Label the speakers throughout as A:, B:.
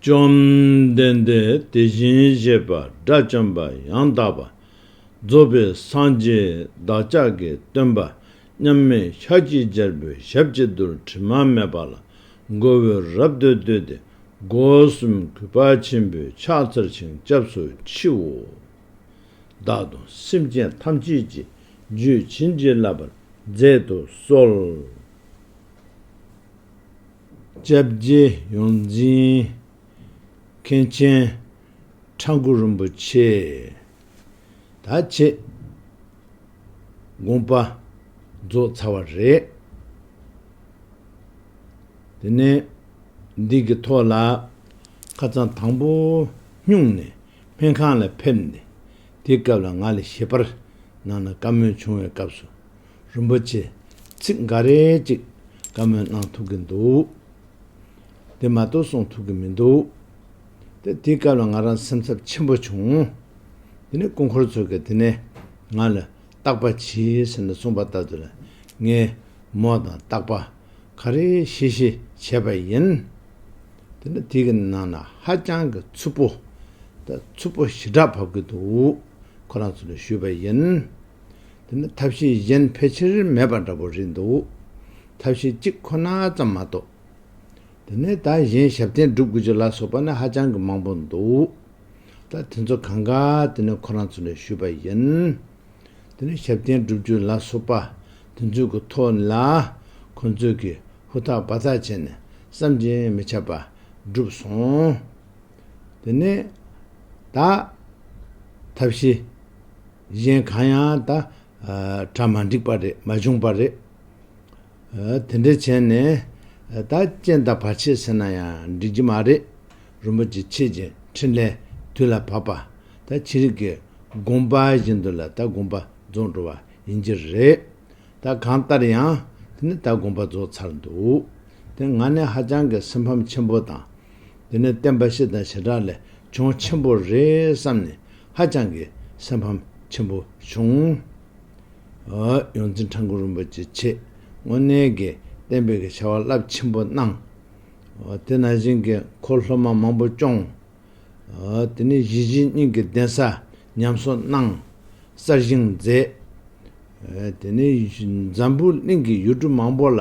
A: བཅོམ་ལྡན་འདས་དེ་བཞིན་གཤེགས་པ་དགྲ་བཅོམ་པ་ཡང་དག་པར་རྫོགས་པའི་སངས་རྒྱས་བདག་ཅག་གི་སྟོན་པ་མཉམ་མེད་ཤ་ཁྱི་རྒྱལ་པོའི་ཞབས་ཀྱི་རྡུལ་དྲི་མ་མེད་པ་ལ་མགོ་བོས་རབ་ཏུ་བཏུད་དེ་སྒོ་གསུམ་གུས་པ་ཆེན་པོས་ཕྱག་འཚལ་ཞིང་སྐྱབས་སུ་མཆིའོ། བདག་དང་སེམས་ཅན་ཐམས་ཅད་ཀྱི་རྒྱུད་བྱིན་གྱིས་བརླབས་པར་མཛད་དུ་གསོལ། བཅྭ་བརྒྱད་ཡོངས་འཛིན་མཁན་ཆེན་ཁྲ་འགུ་རིན་པོ་ཆེས་ད་ཆེད་དགོངས་པ་རྫོགས་ཚར་བ་རེད། དེ་ནས་འདི་གི་ཐོག་ལ་ཁ་རྩང་དང་པོ་སྨྱུང་ནས་སྨན་ཁང་ལ་ཕེབས་ནས་དེ་སྐབས་ལ་ང་ལ་ཞལ་པར་གནང་ན་བཀའ་མོལ་བྱུང་བའི་སྐབས་སུ་རིན་པོ་ཆེ། ཚིག་འགའ་རེ་ཅིག་བཀའ་མོལ་གནང་ཐུབ་གི་འདུག། དེ་མ་གཏོགས་གསུང་ཐུབ་གི་མི་འདུག། དེ་དེའི་སྐབས་ལ་ང་རང་སེམས་འཚབ་ཆེན་པོ་བྱུང། དེ་ནས་སྐུ་འཁོར་ཚོ་གིས་དེ་ནས་ང་ལ་རྟག་པ་གྱིས་ཟེར་ནས་གསུངས་པ་ལྟར་དུ་ལ་ངས་མོ་དང་རྟག་པ་ག་རེ་ཤེས་ཤེས་བྱས་པ་ཡིན། དེ་ནས་དེ་གི་ནང་ན་ཧ་ཅང་གི་འཚུབ་པོ། ད་འཚུབ་པོ་ཞི་དྲག་བབས་ཀྱི་འདུག་ཁོ་རང་ཚོ་ལ་ཞུས་པ་ཡིན། དེ་ནི་ཐབས་ཤེས་གཞན་ཕལ་ཆེར་མེད་པ་འདྲ་པོ་རེད་འདུག་ཐབས་ཤེས་གཅིག་ཁོ་ན་ཙམ་མ་གཏོགས། དེ་ནས་ད་གཞན་ཞབས་བརྟན་སྒྲུབ་དགོས་རྒྱུ་ལ་སོགས་པ་ནི་ཧ་ཅང་གི་མང་པོ་འདུག་ད་དེ་ཚོ་གང་ག་དེ་ནི་ཁོ་རང་ཚོ་ནས་ཞུས་པ་ཡིན། དེ་ནི་ཞབས་བརྟན་སྒྲུབ་རྒྱུ་ལ་སོགས་པ་དེ་ཚོའི་གི་ཐོག་ནས་ལ་ཁོ་ཚོས་གི་ཧུར་ཐག་འབའ་ཐག་བྱས་ནས་བསམ་གྱིས་མི་ཁྱབ་པ་བསྒྲུབས་སོང། དེ་ནས་ད་ཐབས་ཤེས། གཞན་གང་ཡང་ད། གྲ་མ་འགྲིག་པ་རེད་མ་བྱུང་པ་རེད། དེ་འདྲ་བྱས་ནས། ད་རྐྱེན་དང་བར་ཆད་ཟེར་ན་ཡང་འགྲིག་གི་མ་རེད། རིན་པོ་ཆེ་ཁྱེད་ཀྱི་འཕྲིན་ལས་དུས་ལ་བབ་པ། ད་ཕྱི་རིགས་ཀྱི་དགོངས་པ་བཞིན་དུ་ལ་ད་དགོངས་པ་རྫོགས་འགྲོ་བ་ཡིན་གྱི་རེད། ད་གང་ལྟར་ཡང་དེ་ནི་ད་དགོངས་པ་རྫོགས་ཚར་འདུག་དེ་ང་ནི་ཧ་ཅང་གི་སེམས་ཕམ་ཆེན་པོ་དང། དེ་ནི་བསྟན་པ་ཤེས་དང་ཞེ་དྲག་ལས་བྱུང་ཆེན་པོ་རེད་བསམ་ནས་ཧ་ཅང་གི་སེམས་ཕམ་ཆེན་པོ་བྱུང། ཡོངས་འཛིན་ཁྲ་འགུ་རིན་པོ་ཆེ་ཆེས་དངོས་གནས་ཀྱི་གཏན་འབེབས་ཀྱི་བྱ་བ་རླབས་ཆེན་པོ་གནང། དེ་ནང་བཞིན་གྱི་འཁོར་སློབ་མ་མང་པོ་སྐྱོང། དེ་ནས་གཞིས་བྱེས་གཉིས་ཀྱི་གདན་ས་ཉམས་གསོ་གནང། གསར་བཞེངས་མཛད། དེ་ནས་འཛམ་བུ་གླིང་གི་ཡུལ་གྲུ་མང་པོ་ལ་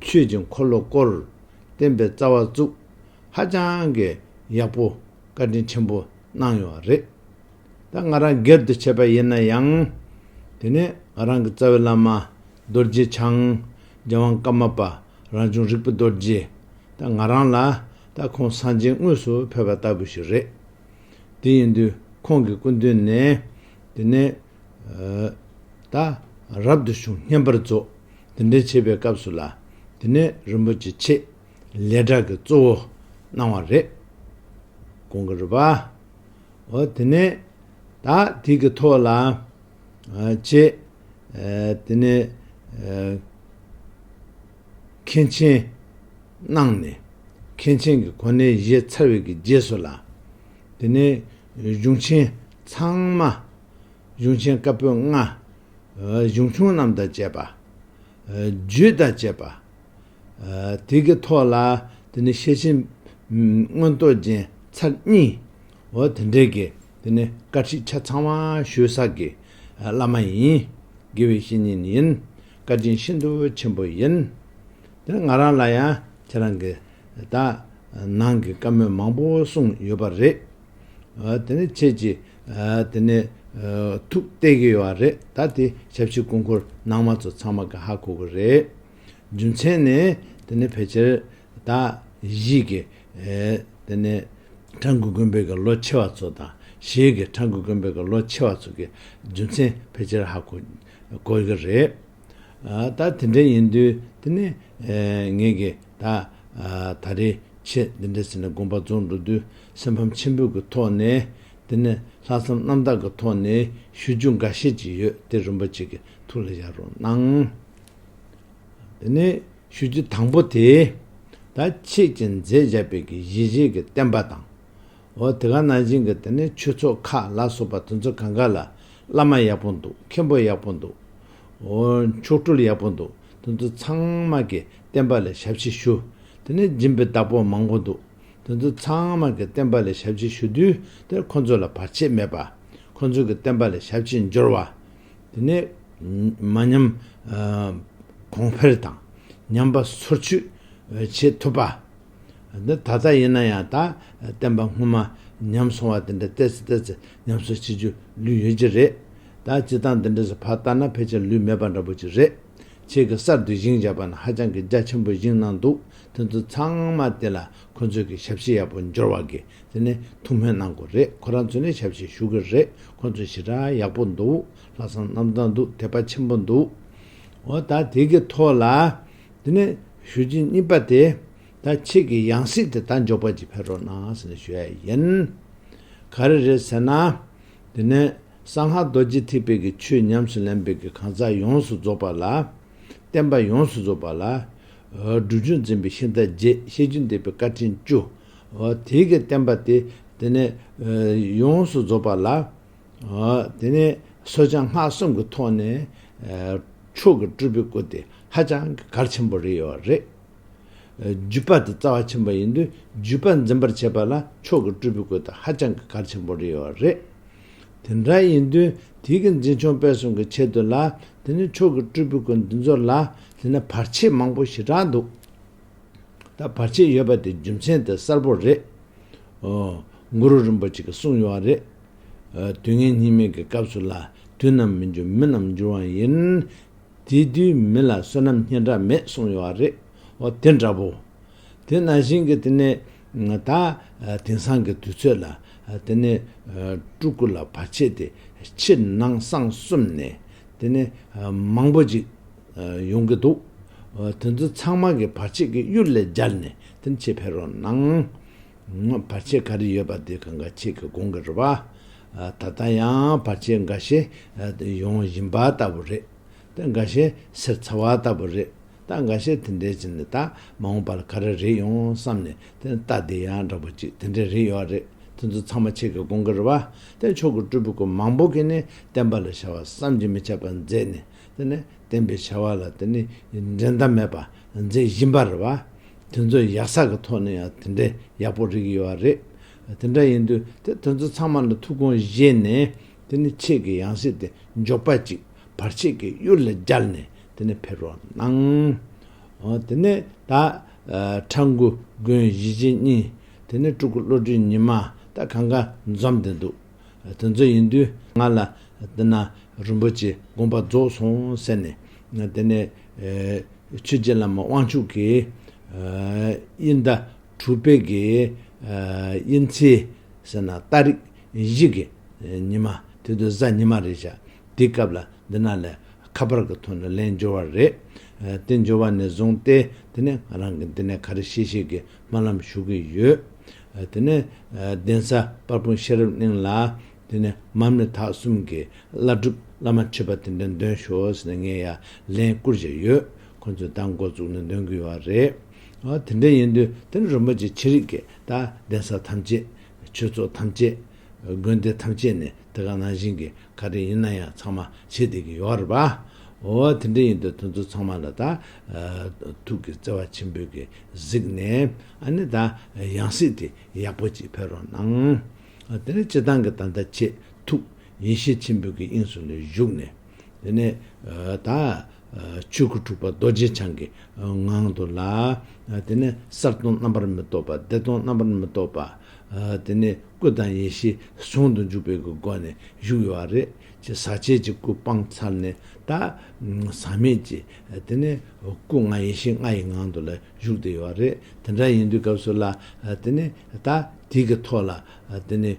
A: ཆོས་ཀྱི་འཁོར་ལོ་བསྐོར། བསྟན་པའི་རྩ་བ་བཙུགས། ཧ་ཅང་གི་ཡག་པོ་བཀའ་དྲིན་ཆེན་པོ། གནང་ཡོད་པ་རེད། ད་ང་རང་སྒེར་དུ་བྱས་པ་ཡིན་ན་ཡང། དེ་ནས་ང་རང་གི་རྩ་བའི་བླ་མ། རྡོ་རྗེ་འཆང། རྒྱལ་དབང་ཀརྨ་པ། རང་བྱུང་རིག་པ་རྡོ་རྗེ། ད་ང་རང་ལ། ད་ཁོང་སངས་རྒྱས་དངོས་སུ་ཕེབས་པ་ལྟ་བུ་ཞིག་རེད། དེ་ཡིན་དུས་ཁོང་གི་སྐུ་མདུན་ནས། དེ་ནས། ད། རབ་ཏུ་བྱུང་བསྙེན་པར་རྫོགས། དེ་འདྲའི་བྱེད་པའི་སྐབས་སུ་ལ། དེ་ནས་རིན་པོ་ཆེ་ཆེ། ལས་གྲྭ་གི་གཙོ་བོ་གནང་བ་རེད། གོང་གི་རུ་པའོ་དེ་ནས་ད་དེ་གི་ཐོག་ལ་ཅེ་དེ་ནས་མཁན་ཆེན་གནང་ནས་མཁན་ཆེན་གི་གོ་གནས་བཞེས་ཚར་བའི་གི་རྗེས་སུ་ལ་དེ་ནས་གཞུང་ཆེན་ཚང་མ་གཞུང་ཆེན་བཀའ་པོད་ལྔ་གཞུང་ཆུང་རྣམས་དང་བཅས་པ་རྒྱུད་དང་བཅས་པ། དེ་གི་ཐོག་ལ་དེ་ནི་ཤེར་ཕྱིན། མངོན་རྟོགས་རྒྱན་ཚར་གཉིས། འོ་དེ་འདྲའི་གི་དེ་ནི་བཀའ་ཁྲིད་ཆ་ཚང་བ་ཞུ་ས་གི་བླ་མ་ཡིན། དགེ་བའི་བཤེས་གཉེན་ཡིན། བཀའ་དྲིན་ཤིན་ཏུ་ཆེན་པོ་ཡིན། དེ་ནི་ང་རང་ལ་ཡང་ཁྱེད་རང་གི་དག་སྣང་གི་བཀའ་མོལ་མང་པོ་གསུངས་ཡོད་པ་རེད། འོ་དེ་ནི་ཁྱེད་ཀྱི་དེ་ནས་ཐུག་བལྟས་གི་ཡོད་རེད་ད་དེ་ཞབས་ཕྱི་སྐུ་འཁོར་ནང་མ་ཚོ་ཚང་མ་ག་ཧ་གོ་གི་རེད། རྒྱུ་མཚན་ནི་དེ་ནི་ཕལ་ཆེར་ད་གཞིས་ཀྱི་དེ་ནི་ཁྲ་འགུ་དགོན་པའི་གི་ལོ་ཆེ་བ་ཚོ་དང་གཞིས་ཀྱི་ཁྲ་འགུ་དགོན་པའི་གི་ལོ་ཆེ་བ་ཚོ་གི་རྒྱུ་མཚན་ཕལ་ཆེར་ཧ་གོ་གི་རེད། ད་དེ་འདྲ་ཡིན་དུས་དེ་ནི་ངེད་ཀྱི་ད་ད་རེས་ཆེད་འདི་འདྲ་ཟེར་ནས་དགོངས་པ་རྫོགས་འགྲོ་དུས་སེམས་ཕམ་ཆེན་པོས་ཀྱི་ཐོག་ནས་འདི་ནས་ལྷག་བསམ་རྣམ་དག་གི་ཐོག་ནས་ཞུ་རྒྱུ་འགའ་ཤས་ཅིག་ཡོད་དེ་རིན་པོ་ཆེ་གི་ཐུགས་ལ་བཞག་རོགས་གནང། དེ་ནས་ཞུ་རྒྱུ་དང་པོ་དེ། ད་ཁྱེད་ཀྱིས་མཛད་བཞག་པའི་གི་གཞི་བཞེས་གི་བསྟན་པ་དང། འོ་དེ་ག་ནང་བཞིན་གི་དེ་ནས་ཆོས་ཚོགས་ཁག་ལ་སོགས་པ་དེ་ཚོ་ག་འགའ་ལ་བླ་མ་ཡག་པོ་འདུག་མཁན་པོ་ཡག་པོ་འདུག། འོ་མཆོག་སྤྲུལ་ཡག་པོ་འདུག་དེ་ཚོ་ཚང་མ་གི་བསྟན་པ་ལས་ཞབས་ཕྱི་ཞུ། དེ་ནས་སྦྱིན་པའི་བདག་པོ་མང་པོ་འདུག་དེ་ཚོ་ཚང་མ་གི་བསྟན་པ་ལས་ཞབས་ཕྱི་ཞུ་དུས་དེར་ཁོ་ཚོ་ལ་བར་ཆད་མེད་པ། ཁོ་ཚོ་གི་བསྟན་པ་ལས་ཞབས་ཕྱི་འབྱོར་བ། དེ་ནས་མ་ཉམས་གོང་འཕེལ་དང། ཉམས་པ་སོར་ཆུད་བྱེད་ཐུབ་པ། འདི་ད་ལྟ་ཡིན་ན་ཡང་དག་བསྟན་པ་སྔོན་མ་ཉམས་སོང་བ་དེ་འདྲ་བལྟས་ཚེ་བལྟས་ཚེ་ཉམས་སུ་བྱེད་རྒྱུ་ལུས་ཡོད་ཀྱི་རེད་ད། སྤྱི་བཏང་འདི་འདྲ་ཟེར་བར་ལྟ་ན་ཕལ་ཆེར་ལུས་མེད་པ་འདྲ་པོ་ཅིག་རེད། ཁྱེད་ཀྱི་གསར་དུ་བཞེངས་བྱས་པ་ན་ཧ་ཅང་གི་རྒྱ་ཆེན་པོ་བཞེངས་གནང་འདུག་དེ་ཚོ་ཚང་མ་དེ་ལ་ཁོ་ཚོས་ཀྱི་ཞབས་ཕྱི་ཡག་པོ་འབྱོར་བ་གི་དེ་ནས་ཐུགས་སྨོན་གནང་དགོས་རེད་ཁོ་རང་ཚོས་ནས་ཞབས་ཕྱི་ཞུ་གི་རེད་ཁོ་ཚོ་ཞི་དྲག་ཡག་པོ་འདུག་ལྷག་བསམ་རྣམ་དག་འདུག་དད་པ་ཆེན་པོ་འདུག་འོ་ད་དེ་གི་ཐོག་ལ། དེ་ནས་ཞུ་རྗེས་གཉིས་པ་དེ། ད་ཁྱེད་ཀྱིས་ཡང་སྲིད་དེ་ད་འཇོག་པ་ཅིག་འཕེལ་རོགས་གནང་ཟེར་ནས་ཞུ་ཡ་ཡིན། ག་རེ་རེད་ཟེར་ན། དེ་ནས་གསང་སྔགས་རྡོ་རྗེ་ཐིག་དཔལ་གྱི་ཆོས་ཉམས་སུ་ལེན་པའི་གི་གང་ཟག་ཡོངས་སུ་རྫོགས་པ་ལ། བསྟན་པ་ཡོངས་སུ་རྫོགས་པ་ལ། སྒྲུབ་ཆུང་འཛིན་པའི་ཤིང་རྟ་རྗེ་ཤེས་རྒྱུན་འདེབས་པའི་བཀའ་དྲིན་བཅུ། དེའི་གི་བསྟན་པ་དེ། དེ་ནས་ཡོངས་སུ་རྫོགས་པ་ལ། དེ་ནས་སོ་བྱང་སྔགས་གསུམ་གྱི་ཐོག་ནས་མཆོག་གི་སྤྲུལ་པའི་སྐུ་དེ་ཧ་ཅང་གི་གར་ཆེན་པོ་རེད་ཡོད་བ་རེད། བརྒྱུད་པ་དེ་རྩ་བ་ཆེན་པོ་ཡིན་དུས་བརྒྱུད་པ་འཛིན་པར་བྱེད་པ་ལ་མཆོག་གི་སྤྲུལ་པའི་སྐུ་དེ་ཧ་ཅང་གི་གར་ཆེན་པོ་རེད་ཡོད་བ་རེད། དེ་འདྲ་ཡིན་དུས་དེའི་གི་འཛིན་ཆུང་སྤེལ་གསུམ་གྱི་ཆེད་དུ་ལ་དེ་ནས་མཆོག་གི་སྤྲུལ་པའི་སྐུ་འདི་ཚོ་ལ་དེ་ནས་བར་ཆད་མང་པོ་ཞེ་དྲག་འདུག་ད་བར་ཆད་ཡོད་པ་དེ་རྒྱུ་མཚན་དེ་གསལ་པོ་རེད། འོ། གུ་རུ་རིན་པོ་ཆེ་གི་གསུངས་ཡོད་བ་རེད། དུས་ངན་སྙིགས་མའི་གི་སྐབས་སུ་ལ། དུས་རྣམས་མི་འགྱུར་མི་རྣམས་འགྱུར་བ་ཡིན། དེ་དུས་མི་ལ་བསོད་ནམས་སྙན་གྲགས་མེད་གསུངས་ཡོད་བ་རེད་འོ་དེ་འདྲ་བོ། དེ་ན་བཞིན་གི་དེ་ནས་ད། དེང་སང་གི་དུས་ཚོད་ལ། དེ་ནས། སྤྲུལ་སྐུ་ལ་བར་ཆད་དེ། ཕྱི་ནང་གསང་གསུམ་ནས། དེ་ནས། མང་པོ་ཅིག། ཡོང་གི་འདུག། དེ་ཚོ་ཚང་མ་གི་བར་ཆད་ཀྱི་གཡུལ་ལས་སྦྱར་ནས་དེ་ནས་ཕྱི་ཕེབས་རོགས་གནང། བར་ཆད་ག་རེ་ཡོད་པ་དེ་གང་ག་ཁྱེད་ཀྱི་དགོངས་ཀྱི་རེད་བ། ད་ལྟ་ཡང་བར་ཆད་འགའ་ཤས་ཡོང་བཞིན་པ་ལྟ་བུ་རེད། ད་འགའ་ཤས་སེར་ཚ་བ་ལྟ་བུ་རེད། ད་འགའ་ཤས་དེ་འདྲའི་ཕྱིན་ནས་ད་མ་འོངས་པར་ག་རེ་རེད་ཡོང་བསམ་ནས་དེ་ལྟ་དེ་ཡང་འདྲ་པོ་ཅིག་དེ་འདྲའི་རེད་ཡོད་རེད་དེ་ཚོ་ཚང་མ་ཁྱེད་ཀྱི་དགོངས་ཀྱི་རེད་བ། དེ་མཆོག་གི་སྤྲུལ་སྐུ་མང་པོ་གིས་ནས་བསྟན་པ་ལ་བྱ་བ་བསམ་གྱིས་མི་ཁྱབ་པ་མཛད་ནས་དེ་ནི་བསྟན་པའི་བྱ་བ་ལ་དེ་ནི་འགྲན་ཟླ་མེད་པར་མཛད་བཞིན་པ་རེད་བ། དེ་ཚོའི་ཡག་ས་གི་ཐོག་ནས་ཡང་དེ་འདྲའི་ཡག་པོ་རིགས་ཡོད་བ་རེད། དེ་འདྲ་ཡིན་དུས་དེ་དེ་ཚོ་ཚང་མ་ནི་ཐུགས་དགོངས་བཞེས་ནས་དེ་ནི་ཆེད་ཀྱི་ཡང་སྲིད་དེ་མགྱོགས་པ་ཅིག་བར་ཆད་ཀྱི་གཡུལ་ལ་སྦྱར་ནས་དེ་ནི་ཕེབས་རོགས་གནང། དེ་ནས་ད་ཁྲ་འགུ་དགོན་གཞིས་བྱེས་གཉིས་དེ་ནི་སྤྲུལ་སྐུ་བློ་གྲོས་ཉི་མ་ད་གང་ག་འཛོམས་བསྡད་འདུག། དེ་ཚོ་ཡིན་དུས་ང་ལ་དེ་ན་རིན་པོ་ཆེ་དགོངས་པ་རྫོགས་སོང་ཟེར་ནས། དེ་ནས་ཆོས་རྗེ་བླ་མ་དབང་ཕྱུག་གིས། དབྱིན་བརྡ་དྲུག་སྤེལ་གྱི་དབྱིན་ཚིག་ཟེར་ན་རྟ་རིགས་བཞི་གི་ཉི་མ་དེ་དུས་གཟའ་ཉི་མ་རེད་བྱ། དེའི་སྐབས་ལ་འདི་ན་ལས་ཁ་པར་གྱི་ཐོག་ནས་ལན་འབྱོར་བ་རེད། དེ་འབྱོར་བ་ནས་བཟུང་སྟེ་དེ་ནས་ང་རང་གིས་འདི་ནས་ག་རེ་བཤད་བཤད་ཀྱི་སྨོན་ལམ་ཞུ་གི་ཡོད། དེ་ནས་གདན་ས་དཔལ་སྤུངས་ཤེས་རབ་གླིང་ལ། དེ་ནས་མར་མེ་དྷ་གསུམ་གྱི་བླ་སྒྲུབ་བླ་མ་མཆོད་པ་དེ་འདྲ་འདོན་ཞོག་ཟེར་ནས་ངས་ཡར་ལན་བསྐུར་བཞིན་ཡོད། ཁོ་ཚོས་ད་མགོ་བཙུགས་ནས་འདོན་གི་ཡོད་བ་རེད། དེ་འདྲ་ཡིན་དུས་དེ་ནི་རིན་པོ་ཆེ་ཆེ་རིགས་ཀྱི་ད་གདན་ས་ཐམས་ཅད། ཆོས་ཚོགས་ཐམས་ཅད། དགོན་སྡེ་ཐམས་ཅད་ནས་དེ་ག་ནང་བཞིན་གྱི་ག་དེ་ཡིན་ན་ཡང་ཚང་མ་བྱེད་བསྡད་ཀྱི་ཡོད་རེད་པ། འོ་དེ་འདྲ་ཡིན་དུས་དེ་ཚོ་ཚང་མ་ལ་ད་ཐུག་གི་བརྩེ་བ་ཆེན་པོས་ཀྱི་གཟིགས་ནས་ཨ་ནི་ད་ཡང་སྲིད་དེ་ཡག་པོ་ཅིག་འཕེལ་རོགས་གནང། དེ་ནས་སྤྱི་བཏང་གི་ད་ལྟ་ཆེས་ཐུག་ཡེ་ཤེས་ཆེན་པོས་ཀྱི་དབྱིངས་སུ་ལ་བཞུགས་ནས་དེ་ནས་ད། ཆོས་སྐུ་དྲུག་པ་རྡོ་རྗེ་འཆང་གི་ངང་དུ་ལ། དེ་ནས་གསར་སྟོང་རྣམ་པར་མི་རྟོག་པ་བདེ་སྟོང་རྣམ་པར་མི་རྟོག་པ། དེ་ནས་སྐུ་དང་ཡེ་ཤེས་ཟུང་དུ་འཇུག་པའི་གི་སྒོ་ནས་བཞུགས་ཡོད་བ་རེད་ཅེས་ཟག་བཅས་ཀྱི་སྐུ་སྤངས་ཚར་ནས་ད། ཟག་མེད་ཀྱི། དེ་ནས་སྐུ་ལྔ་ཡེ་ཤེས་ལྔ་ཡི་ངང་དུ་ལ་བཞུགས་བསྡད་ཡོད་བ་རེད་དེ་འདྲ་ཡིན་དུས་སྐབས་སུ་ལ། དེ་ནས་ད་དེ་གི་ཐོག་ལ་དེ་ནས་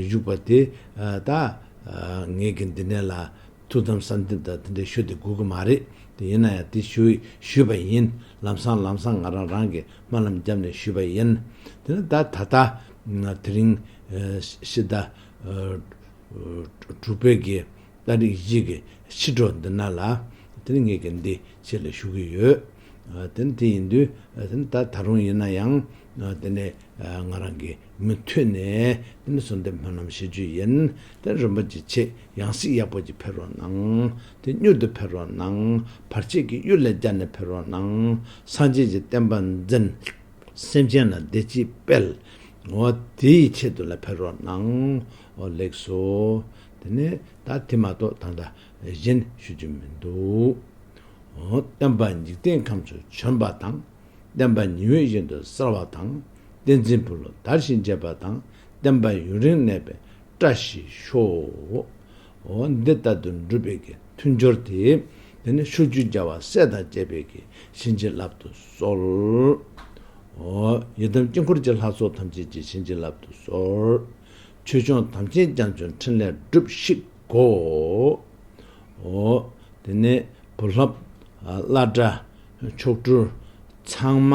A: བཞུགས་པ་དེ་ད། ངེད་ཀྱི་འདི་ནས་ལ་ཐུགས་དམ་གསར་འདེབས་དང་དེ་འདྲའི་ཞུ་དེ་དགོས་ཀྱི་མ་རེད་དེ་ཡིན་ན་ཡང་དེ་ཞུ་ཞུས་པ་ཡིན་ལམ་སང་ལམ་སང་ང་རང་རང་གི་སྨོན་ལམ་བརྒྱབ་ནས་ཞུས་པ་ཡིན་དེ་ན་ད་ད་ལྟ་དེ་རིང་ཕྱི་ཟླ་དྲུག་བོད་ཀྱི་ཟླ་རིག་གཞིས་ཀྱི་ཕྱི་དྲོ་འདི་ན་ལ་དེ་ནི་ངེད་ཀྱི་འདི་ཕྱི་ལ་ཞུ་གི་ཡོད་དེ་ན་དེ་ཡིན་དུས་དེ་ན་ད་ད་རུང་ཡིན་ན་ཡང་དེ་ནས་ང་རང་གིས་མུ་མཐུད་ནས་འདི་ནི་གསོལ་འདེབས་སྨོན་ལམ་བཞེས་རྒྱུ་ཡིན། དེར་རིན་པོ་ཆེས་ཆེས་ཡང་སྲིད་ཡག་པོ་ཅིག་འཕེལ་རོགས་གནང། དེ་མྱུར་དུ་འཕེལ་རོགས་གནང། བར་ཆད་ཀྱི་གཡུལ་ལས་རྒྱལ་ནས་འཕེལ་རོགས་གནང། སངས་རྒྱས་ཀྱི་བསྟན་པ་འཛིན། སེམས་ཅན་ལ་བདེ་སྐྱིད་སྤེལ། འོ་དེ་ཡི་ཆེད་དུ་ལ་འཕེལ་རོགས་གནང། འོ་ལེགས་སོ། དེ་ནས་ད་དེ་མ་གཏོགས་ད་ལྟ་གཞན་ཞུ་རྒྱུ་མི་འདུག། འོ་བསྟན་པ་འཇིག་རྟེན་ཁམས་སུ་བྱོན་པ་དང། བསྟན་པ་ཉི་འོད་བཞིན་དུ་གསལ་བ་དང། བསྟན་འཛིན་འཕུར་ལོ་དར་བཞིན་འབྱེད་པ་དང། བསྟན་པ་ཡུན་རིང་གནས་པའི་བཀྲ་ཤིས་ཤོག། འོ། འདི་ལྟ་དུ་འགྲུབ་པའི་གི་མཐུ་འབྱོར་ཏེ། དེ་ནས་ཕྱོགས་བཅུའི་རྒྱལ་བ་སྲས་དང་བཅས་པའི་གི་བྱིན་གྱིས་བརླབ་ཏུ་གསོལ། འོ། ཡི་དམ་དཀྱིལ་འཁོར་གྱི་ལྷ་ཚོགས་ཐམས་ཅད་ཀྱི་བྱིན་གྱིས་བརླབ་ཏུ་གསོལ། ཆོས་སྐྱོང་དམ་ཅན་རྒྱ་མཚོའི་ཕྲིན་ལས་སྒྲུབས་ཤིག་གོ། འོ། དེ་ནས་བུ་ལྷ། བླ་བྲ། མཆོག་སྤྲུལ་ཚང་མ་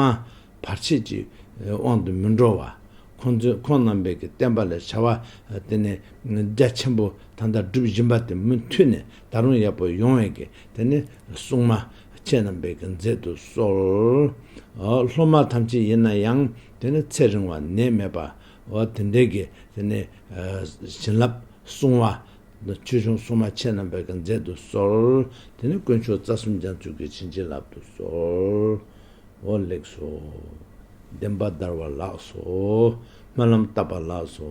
A: བར་ཆད་ཀྱི་དབང་དུ་མི་འགྲོ་བར། ཁོང་ཚོས་ཁོང་རྣམ་པས་ཀྱི་བསྟན་པ་ལ་བྱ་བ་དེ་ནི་རྒྱ་ཆེན་པོ་དང་དག་སྒྲུབ་སྦྱིན་པ་དེ་མུ་མཐུད་ནས་ད་རུང་ཡག་པོ་ཡོང་བས་ཀྱི་དེ་ནི་སྲུང་མ་ཁྱེད་རྣམ་པས་ཀྱི་མཛད་དུ་གསོལ། སློབ་མ་ཐམས་ཅད་ཡིན་ན་ཡང་དེ་ནི་ཚེ་རིང་བ་ནད་མེད་པ་དེ་འདྲའི་ཀྱི་དེ་ནི་བྱིན་རླབས་སྲུང་བ་ལ། ཆོས་འབྱུང་སྲུང་མ་མཆེད་རྣམ་པའི་དགའ་མཛད་དུ་གསོལ། དེ་ནས་དཀོན་མཆོག་རྩ་གསུམ་སྦྱང་བརྩོན་གྱིས་བྱིན་གྱིས་བརླབ་ཏུ་གསོལ། འོ་ལེགས་སོ། བདེན་པ་བདར་བ་ལགས་སོ། སྨོན་ལམ་བཏབ་པ་ལགས་སོ།